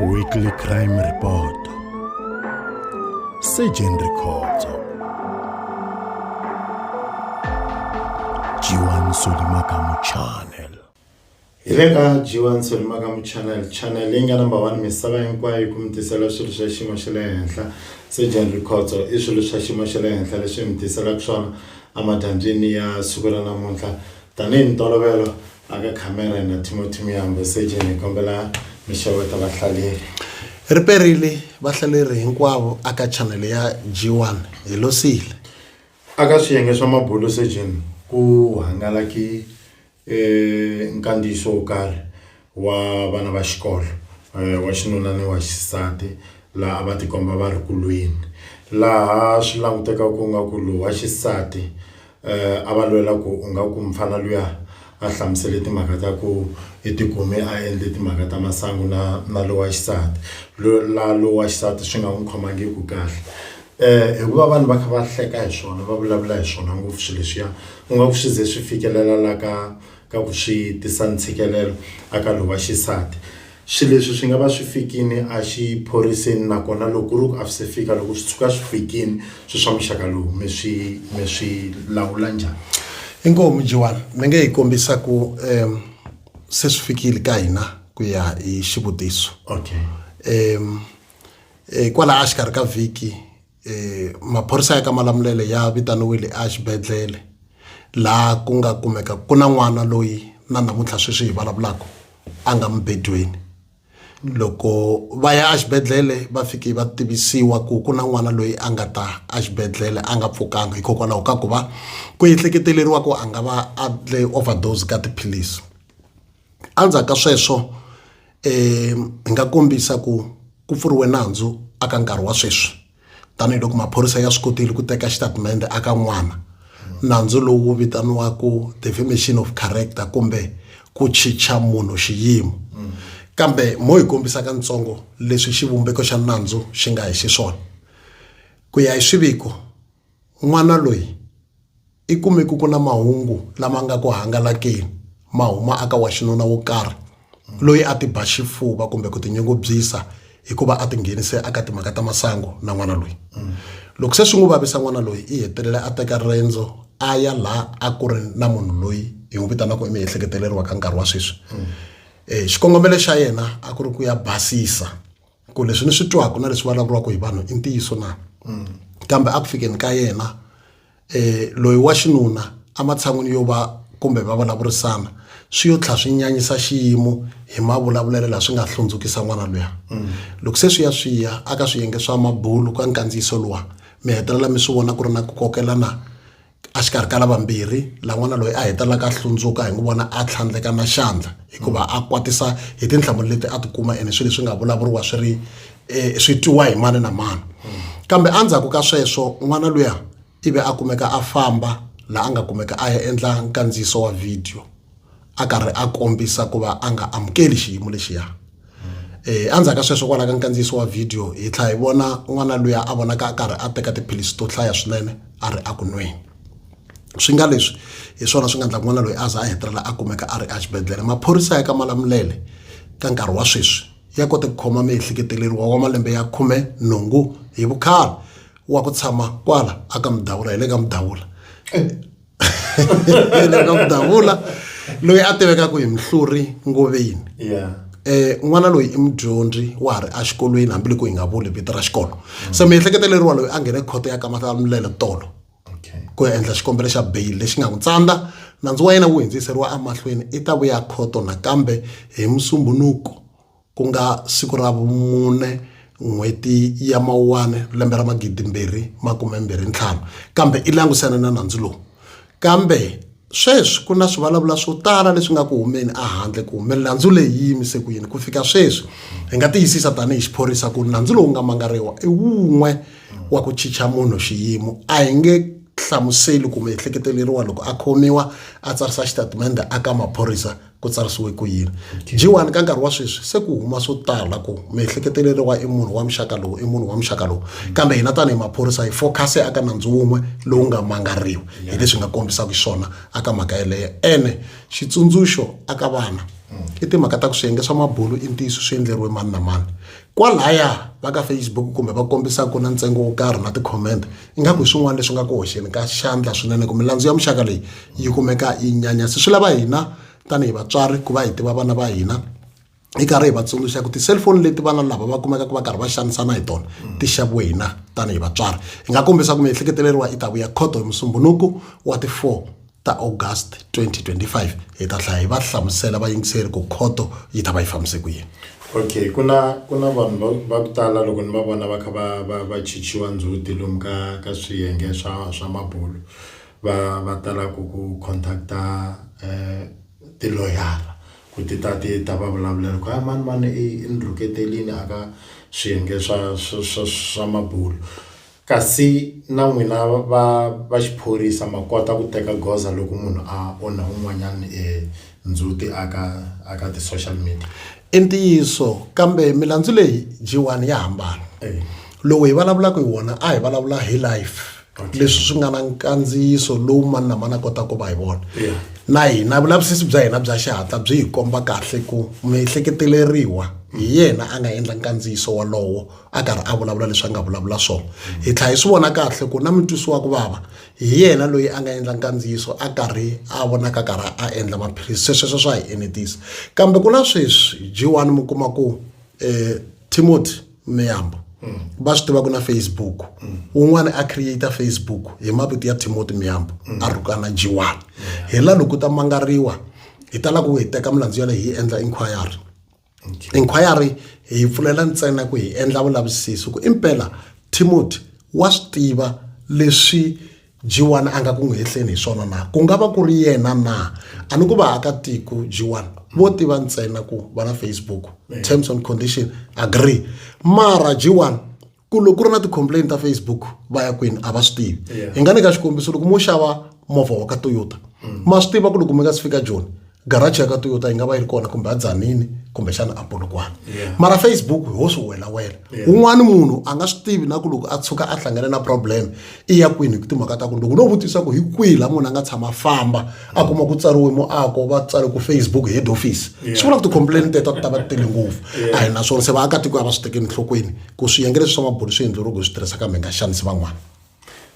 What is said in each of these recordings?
Weekly Crime Report Surgeon Rikhotso Jiwan Solimakamu Channel hi le ka Jiwan Solimakamu Channel channel leyi nga number 1 misava hinkwayo ku mi tisela swilo swa xiyimo xa le henhla Surgeon Rikhotso i swilo swa xiyimo xa le henhla leswi mi tiselaka swona emadyambyini ya siku ra namuntlha Tanihi mintolovelo aka khamera na Timothy Miyambo Seje ni kombela mi xeweta vahlaleri. Ri perile vahlaleri hinkwavo aka chanele ya G1 hi losile. Aka swiyenge swa mabulo Seje ku hangalaki e nkandziyiso wo karhi wa vana va xikolo wa xinuna ni wa xisati laha a va tikomba va ri kulweni laha swi languteka ku nga ku lowa xisati a va lwela ku u nga ku mfana luya a hlamusele timhaka ta ku i tikume a endle timhaka ta masangu na na lowa xisati la lowa xisati swi nga n'wi khomangiku kahle hikuva vanhu va kha va hleka hi swona va vulavula hi swona ngopfu swi leswiya u nga ku swi ze swi fikelela la ka ka ku swi tisa ntshikelelo aka lowa xisati. Swi leswi swi nga va swi fikini a xiphoriseni nakona loko ku ri ku a swi se fika loko swi tshuka swi fikini swi swa muxaka lowu mi swi mi swi lawula njhani? Inkomu mujewani ni nge hi kombisa ku um se swi fikile ka hina ku ya hi xivutiso okay um kwalaho a xikarhi ka vhiki um maphorisa ya ka malamulele ya vitaniwile exibedhlele laha ku nga kumeka ku na n'wana loyi na namuntlha sweswi hi vulavulaka a nga mubedweni loko va ya exibedhlele va fike va tivisiwa ku ku na n'wana loyi a nga ta exibedhlele a nga pfukanga hikokwalaho ka ku va ku ehleketeleriwa ku a nga va a dle overdose ka tiphilisi. Endzhaku ka sweswo hi nga kombisa ku ku pfuriwe nandzu a ka nkarhi wa sweswi tanihiloko maphorisa ya swi kotile ku teka xitatimende a ka n'wana nandzu lowu vitaniwaka defamation of character kumbe ku chicha munhu xiyimo kambe mo hi kombisaka ntsongo leswi xivumbeko xa nandzu xi nga hi xiswona ku ya hi swiviko n'wana loyi I kume ku ku na mahungu lama nga ku hangalakeni ma huma aka wa xinuna wo karhi loyi a ti ba xifuva kumbe ku tinyungubyisa hikuva a tinghenise aka timhaka ta masangu na n'wana loyi loko se swi n'wi vavisa n'wana loyi i hetelela a teka riendzo a ya laha a ku ri na munhu loyi hi n'wi vitanaka emiehleketweni wa ka nkarhi wa sweswi xikongomelo xa yena a ku ri ku ya basisa ku leswi ni swi twaka na leswi vulavuriwaka hi vanhu i ntiyiso na mm. kambe a ku fikeni ka yena eh loyi wa xinuna ematshan'wini yo va kumbe va vulavurisana swi yo tlha swi nyanyisa xiyimo hi mavulavulelo la swi nga hlundzukisa n'wana luya mm. loko se swi ya swi ya aka swiyenge swa mabulu ka nkandziyiso luwa mi hetelela mi swi vona ku ri na ku kokelana exikarhi ka lavambirhi lan'wana loyi a hetelelaka a hlundzuka hi n'wi vona a tlhandleka na xandla hikuva a kwatisa hi tinhlamulo leti a tikuma ene swilo leswi nga vulavuriwa swi ri um swi twiwa hi mani na mani kambe endzhaku ka sweswo n'wana luya ivi a kumeka a famba laha a nga kumeka a ya endla nkandziyiso wa vhidiyo a karhi a kombisa ku va a nga amukeli xiyimo lexiya um endzhaku ka sweswo kwalaho ka nkandziyiso wa vhidiyo hi tlhela hi vona n'wana luya a vonaka a karhi a teka tiphilisi to hlaya swinene a ri eku nweni swi nga leswi hi swona swi nga endla n'wana loyi a za a hetelela a kumeka a ri exibedhlele maphorisa ya ka malamulele ka nkarhi wa sweswi ya kote ku khoma miehleketeleriwa wa malembe ya khume nhungu hi vukhale wa ku tshama kwala aka mudawula hi le ka mudawula ka ku davula loyi a tivekaka hi mihluri ngoveni yeah eh n'wana loyi i mudyondzi wa ha ri exikolweni hambiloko hi nga vuli vito ra xikolo mm. se miehleketo leriwa loyi a nghene khoto ya kamata milele tolo ku ya endla xikombelo xa bail lexi nga n'wi tsandza nandzu wa yena wu hindziseriwa emahlweni i ta vuya khoto nakambe hi musumbunuko ku nga siku ra vumune n'hweti ya mawuwani lembe ra magidi mbirhi makume mbirhi ntlhanu kambe i langusane na nandzu lowu kambe sweswi ku na swivulavula swo tala leswi nga ku humeni ehandle ku hume nandzu leyi yi yimise ku yini ku fika sweswi hi nga tiyisisa tanihi xiphorisa ku nandzu lowu nga mangariwa i wun'we wa ku chicha munhu xiyimo a hi nge hlamuseli kumbe ehleketeleriwa loko a khomiwa a tsarisa xitatimende a ka maphorisa ku tsarisiwe ku yini jiwani ka nkarhi wa sweswi se ku huma swo tala ku miehleketelelo wa i munhu wa muxaka lowu i munhu wa muxaka lowu kambe hina tanihi maphorisa hi focuse aka nandzu wun'we lowu nga mangariwi hi leswi nga kombisaka swona aka mhaka yeleyo ene xitsundzuxo aka vana i timhaka ta ku swiyenge swa mabulu i ntiyiso swi endleriwe mani na mani kwalaya va ka facebook kumbe va kombisaka ku na ntsengo wo karhi na ti-comment ingaku hi swin'wana leswi nga ku hoxeni ka xandla swinene ku milandzu ya muxaka leyi yi kumeka yi nyanyasi swi lava hina tanihi vatswari ku va hi tiva vana va hina hi karhi hi va tsundzuxa ku ti-cellphone leti vana lava va kumekaka va karhi va xanisana hi tona ti xaviwe hina tanihi vatswari hi nga kombisa ku miehleketeleriwa i ta vuya khoto hi musumbunuku wa ti-four ta August 2025 hi ta hlaya hi va hlamusela vayingiseri ku khoto yi ta va yi fambise ku yini okay ku na ku na vanhu va ku tala loko ni va vona va kha va va va chichiwa ndzhuti lomu ka ka swiyenge swa swa mabulo va va tala ku ku contacta eh tiloyara ku ti ta ti ta va vulavulela ku a mani mani i ni rhuketelini a ka swiyenge swa swa swa swa mabulo. Kasi na n'wina va va xiphorisa ma kota ku teka goza loko munhu a onha un'wanyana e ndzhuti a ka a ka ti-social media? I ntiyiso kambe milandzu leyi G1 ya hambana. Lowu hi vulavulaka hi wona a hi vulavula hi live leswi swi nga na nkandziyiso lowu mani na mani a kotaka ku va hi vona. Na hina vulavisisi bya hina bya xihatla byi hi komba kahle ku muehleketeleriwa hi yena a nga endla nkandziyiso wolowo. a karhi a vulavula leswi a nga vulavula swona hi tlhela hi swi vona kahle ku na mutwisi wa ku vava hi yena loyi a nga endla nkandziyiso a karhi a vonaka karhi a endla maphilisi swesweswo swa hi enetisa kambe ku na sweswi jiwani mi kuma ku um eh, timothy miyambo va swi tivaka na facebook un'wana a create facebook hi mavito ya timothy miyambo a rhukana jiwani hi la loko ta mangariwa hi tala ku hi teka milandzu yaleyo hi endla inquiry inquiry hi yi pfulela ntsena ku hi endla vulavisisi ku impela timothy wa swi tiva leswi g1 a nga ku n'wi hehleni hi swona na ku nga va ku ri yena na a ni ku vaakatiko g1 vo tiva ntsena ku va na facebook terms and condition agree mara g1 ku loko ku ri na ti-complain ta facebook va ya kwini a va swi tivi hi nga nyika xikombiso loko mo xava movha wa ka toyota mm. ma swi tiva ku loko mi nga si fika joni garaji ya ka toyota yi nga va yi ri kona kumbe a dzanini kumbexana a polokwana mara facebook ho swi welawela un'wana munhu a nga swi tivi na ku loko a tshuka a hlangane na problem i ya kwini hi timhaka ta ku loko no vutisa ku hi kwihi laha munhu a nga tshama famba a kuma ku tsariwe muako va tsari ku facebook head office swi vula ku ti-complain teto ti ta va tele ngopfu a hi naswona se vaakatiko a va swi tekeni enhlokweni ku swiyenge leswi swa mabulu swi endleriwe ku swi tirhisa kambe hi nga xanisi van'wana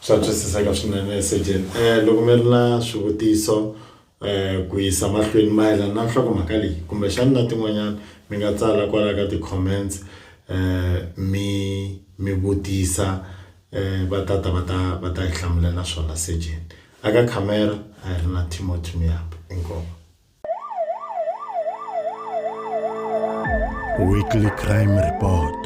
swa twisiseka swinene sejeni um loko mi ri na swivutiso Ku yisa mahlweni, mayelana na nhlokomhaka leyi kumbexana na tin'wanyana, mi nga tsala kwala ka ti-comments mi mi vutisa va tata va ta va ta hi hlamulela swona. Sejeni a ka khamera a hi ri na Timothy Muyambo. Inkomu. Weekly Crime Report.